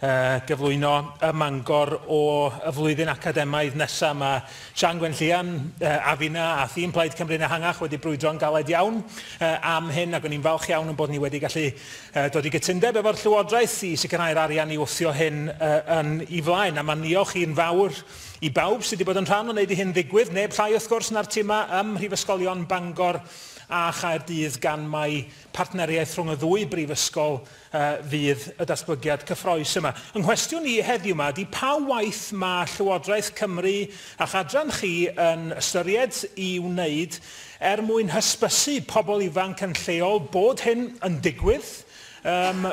gyflwyno ym Mangor o y flwyddyn academaidd nesaf. Mae Siân Gwenllian a finna a thîm Plaid Cymru'n ehangach wedi brwydro'n galed iawn am hyn ac o'n i'n falch iawn ein bod ni wedi gallu dod i gytundeb efo'r Llywodraeth i sicrhau'r arian i wthio hyn yn i flaen. A mae niolch i'n fawr i bawb sydd wedi bod yn rhan o wneud i hyn ddigwydd, neb llai wrth gwrs na'r timau ym Mhrifysgolion Bangor a Chaerdydd gan mai partneriaeth rhwng y ddwy brifysgol a fydd y datblygiad cyffrous yma. Yng nghwestiwn i heddiw 'ma ydi pa waith mae Llywodraeth Cymru a'ch adran chi yn ystyried i wneud er mwyn hysbysu pobl ifanc yn lleol bod hyn yn digwydd yym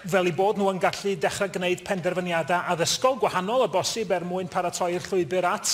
fel eu bod nhw yn gallu dechrau gwneud penderfyniadau addysgol gwahanol o bosib er mwyn paratoi'r llwybr at